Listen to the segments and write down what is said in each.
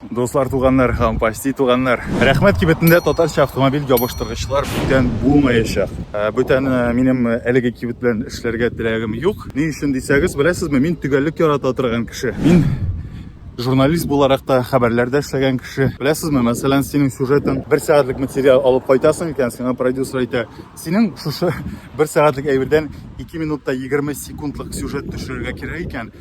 Дуслар, туганнар һәм почти туганнар. Рәхмәт кибетендә татарча автомобиль ябыштыргычлар бүтән булмаячак. Ә, бүтән э, минем э, әлеге кибет белән эшләргә теләгем юк. Ни өчен дисәгез, беләсезме, мин төгәллек ярата торган кеше. Мин журналист буларак та хәбәрләрдә эшләгән кеше. Беләсезме, мәсәлән, синең сюжетың бер сәгатьлек материал алып кайтасың икән, сиңа продюсер әйтә, Синең шушы бер сәгатьлек әйбердән 2 минут та 20 секундлык сюжет төшерергә кирәк икән,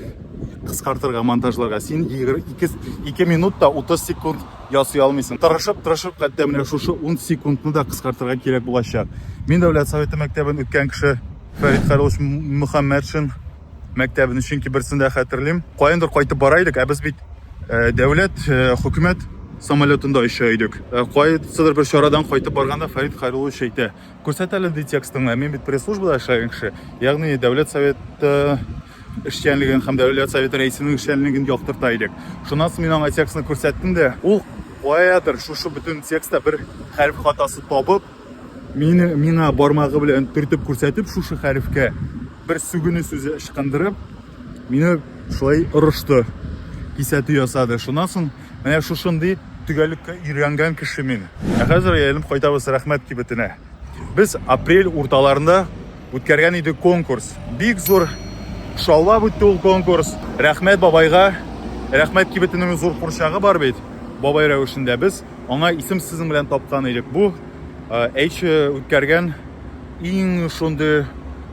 кыскартырга, монтажларга. Син 2 минут та 30 секунд ясый алмыйсың. Тырышып, тырышып, хәтта менә шушы 10 секундны да кыскартырга кирәк булачак. Мин Дәүләт Советы мәктәбен үткән кеше Фәрит Карлович Мөхәммәтшин мәктәбен, чөнки берсен дә хәтерлим. Каяндыр кайтып бара идек, ә без бит дәүләт, хөкүмәт самолетында оча идек. Кайсыдыр бер чарадан кайтып барганда Фәрит Хәйруллович әйтә, күрсәт әле ди текстыңны, мин бит пресс-службада эшләгән кеше, ягъни дәүләт советы эшчәнлеген һәм дәүләт советы рәисенең эшчәнлеген яктырта идек. Шуннан соң мин аңа текстны күрсәттем дә, ул каядыр шушы бөтен текстта бер хәреф хатасы табып, Мине миңа бармагы белән төртеп күрсәтеп шушы хәрефкә бер сүгене сүзе ычкындырып, мине шулай орышты. Кисәтү ясады. Шуннан соң менә шушындый төгәллеккә өйрәнгән кеше мин. Ә хәзер әйләнеп кайтабыз рәхмәт кибетенә. Без апрель урталарында үткәргән иде конкурс. Бик зур шаулап үтте ул конкурс. Рәхмәт бабайга. Рәхмәт кибетенең зур курчагы бар бит. Бабай рәвешендә без Аңа исем сезнең белән тапкан идек. Бу H үткәргән иң шундый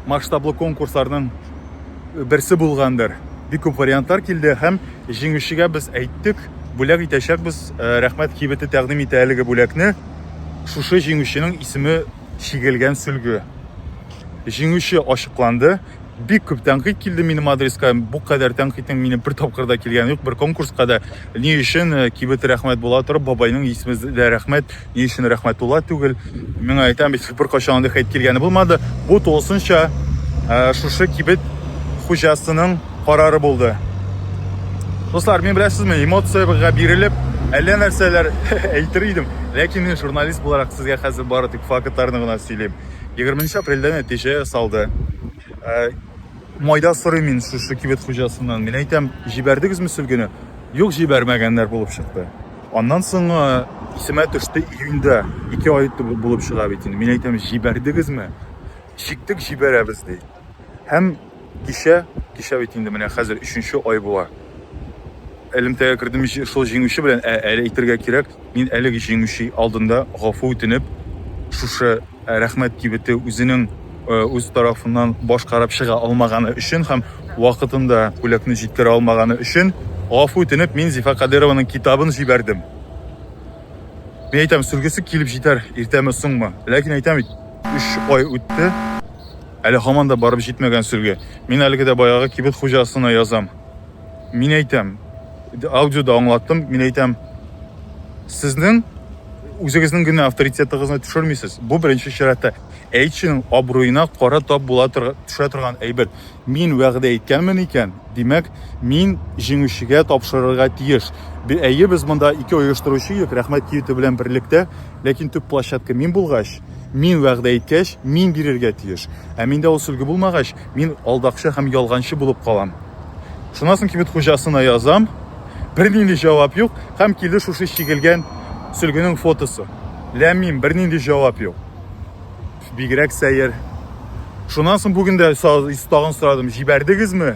масштаблы конкурсларның берсе булгандыр. Бик күп вариантлар килде һәм җиңүчегә без әйттек, бүләк итәчәкбез. Рәхмәт кибете тәкъдим итә әлеге бүләкне. Шушы җиңүченең исеме чигелгән сөлге. Җиңүче ачыкланды. Бик күп тәнкыйть килде минем адреска. Бу кадәр тәнкыйтьнең минем бер тапкырда килгән юк, бер конкурска да. Ни өчен э, кибет рәхмәт була торып, бабайның исеме дә рәхмәт, ни өчен рәхмәтулла түгел? Миңа әйтәм бит, беркайчан андый хәйт килгәне булмады. Бу тулысынча э, шушы кибет хуҗасының карары булды. Дуслар, мин беләсезме, эмоциягә бирелеп, әллә нәрсәләр әйтер идем, ләкин мин журналист буларак сезгә хәзер бары тик фактларны гына сөйлим. 20 апрельдә нәтиҗә ясалды. Э, майда сорыйм мин шушы кибет хуҗасыннан. Мин әйтәм, җибәрдегезме сөлгене? Юк, җибәрмәгәннәр булып чыкты. Аннан соң э, исемә төште июньдә, ике ай булып чыга бит инде. Мин әйтәм, җибәрдегезме? Чиктек, җибәрәбез ди. Һәм кичә, кичә бит инде менә хәзер өченче ай була. Элемтәгә кердем шул җиңүче белән, ә әле әйтергә кирәк, мин әлеге җиңүче алдында гафу үтенеп, шушы рәхмәт кибете үзенең үз тарафыннан башкарып чыга алмаганы өчен һәм вакытында бүләкне җиткерә алмаганы өчен гафу үтенеп, мин Зифа Кадырованың китабын җибәрдем. Мин әйтәм, сүлгесе килеп җитәр, иртәме, соңмы? Ләкин әйтәм бит, өч ай үтте. Әле һаман да барып җитмәгән сөлге. Мин әлеге дә баягы кибет хуҗасына язам. Мин әйтәм, аудиода аңлаттым, мин әйтәм, сезнең үзегезнең генә авторитетыгызны төшермисез. Бу беренче чиратта әйтченең абруена кара тап була төшә торган әйбер. Мин вәгъдә иткәнмен икән, димәк, мин җиңүчегә тапшырырга тиеш. Әйе, без монда ике оештыручы идек, рәхмәт киюте белән берлектә, ләкин төп площадка мин булгач, Мин вәгъдә иткәч, мин бирергә тиеш. Ә миндә ул сөлге булмагач, мин алдакчы һәм ялганчы булып калам. Шуннан соң кибет хуҗасына язам, бернинди җавап юк һәм килде шушы чигелгән сөлгенең фотосы. Ләммим, бернинди җавап юк. Бигрәк сәер. Шуннан соң бүген дә тагын сорадым, җибәрдегезме?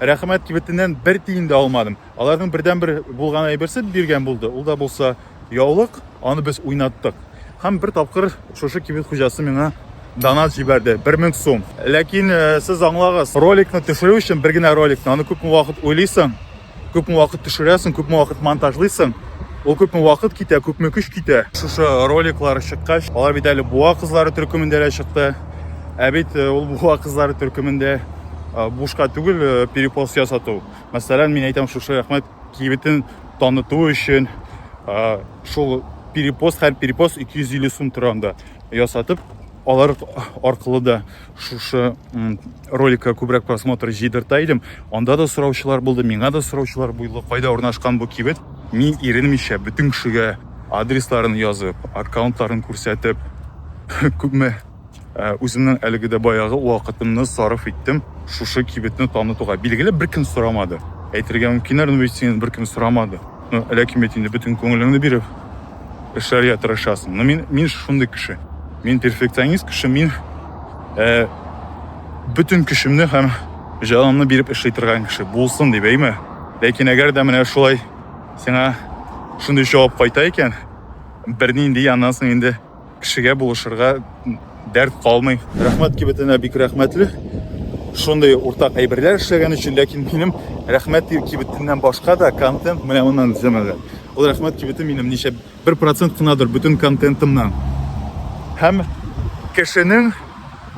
Рәхмәт кибетеннән бер тиен дә алмадым. Аларның бердәнбер булган әйберсе биргән булды. Ул да булса яулык, аны без уйнаттык. Һәм бер тапкыр шушы кибет хуҗасы миңа донат җибәрде, 1000 сум. Ләкин э, сез аңлагыз, роликны төшерү өчен бер генә роликны, аны күпме вакыт уйлыйсың, күпме вакыт төшерәсең, күпме вакыт монтажлыйсың, ул күпме вакыт китә, күпме көч китә. Шушы роликлар чыккач, алар бит әле буа кызлары төркемендә дә чыкты. Ә бит э, ул буа кызлары төркемендә бушка түгел э, перепост ясату мәсәлән мин әйтәм шушы рәхмәт кибетен таныту өчен э, шул перепост һәр перепост 250 сум тора анда ясатып алар аркылы да шушы роликка күбрәк просмотр җыйдырта идем анда да сораучылар булды миңа да сораучылар булды кайда урнашкан бу кибет мин иренмичә бөтен кешегә адресларын язып аккаунтларын күрсәтеп күпме Ә, үземнең әлеге дә баягы вакытымны сарыф иттем шушы кибетне танытуга. Билгеле, беркем сорамады. Әйтергә мөмкиннәр, ну ведь синен беркем сорамады. Ну, ләкин бит инде бөтен күңелеңне биреп эшләргә тырышасың. Ну, мин, мин шундый кеше. Мин перфекционист кеше, мин ә, бөтен көчемне һәм җанымны биреп эшли торган кеше булсын дип әйме ләкин әгәр дә менә шулай сиңа шундый җавап кайта икән бернинди аннан соң инде Кешегә булышырга дәрт калмый. Рәхмәт кибетенә бик рәхмәтле. Шундый уртак әйберләр эшләгән өчен, ләкин минем рәхмәт кибетеннән башка да контент менә моннан эзләмәгән. Ул рәхмәт кибете минем ничә бер процент кынадыр бөтен контентымнан. Һәм кешенең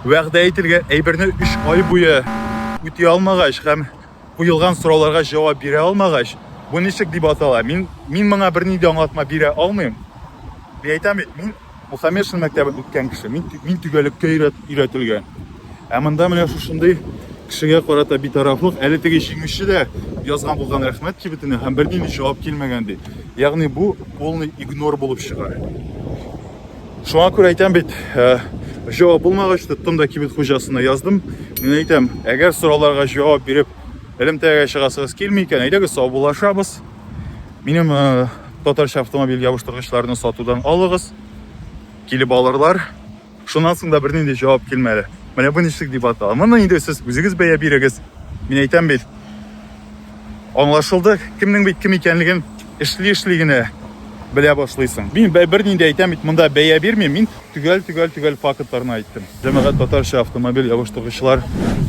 вәгъдә ителгән әйберне 3 ай буе үти алмагач һәм Куелган сорауларга җавап бирә алмагач, бу ничек дип атала? Мин, мин моңа берни дә аңлатма бирә алмыйм. Мин әйтәм бит, мин Мухаммедшин мәктәбен үткән кеше, мин, мин төгәлеккә өйрәт, өйрәтелгән. Ә монда менә шушындый кешегә карата битарафлык, әле теге җиңүче дә язган булган рәхмәт кибетенә һәм бернинди җавап килмәгән ди. Ягъни бу полный игнор булып чыга. Шуңа күрә әйтәм бит, җавап булмагач, тоттым да кибет хуҗасына яздым. Мин әйтәм, әгәр сорауларга җавап биреп, элемтәгә чыгасыгыз килми икән, әйдәгез саубуллашабыз. Минем татарча автомобиль ябыштыргычларны сатудан алыгыз. Килеп алырлар. Шуннан соң да бернинди җавап килмәде. Менә бу ничек дип атала. Моны инде сез үзегез бәя бирегез. Мин әйтәм бит, Аңлашылды, кемнең бит кем икәнлеген эшли-эшли генә белә башлыйсың. Мин бер нинди әйтәм бит, монда бәя бирмим, мин төгәл-төгәл-төгәл фактларны айттым. Җәмәгать татарча автомобиль ябыштыргычлар,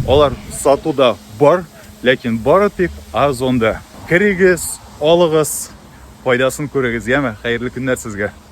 алар сатуда бар, ләкин бары тик Озонда. Керегез, алыгыз, файдасын күрегез, яме, хәерле көннәр сезгә.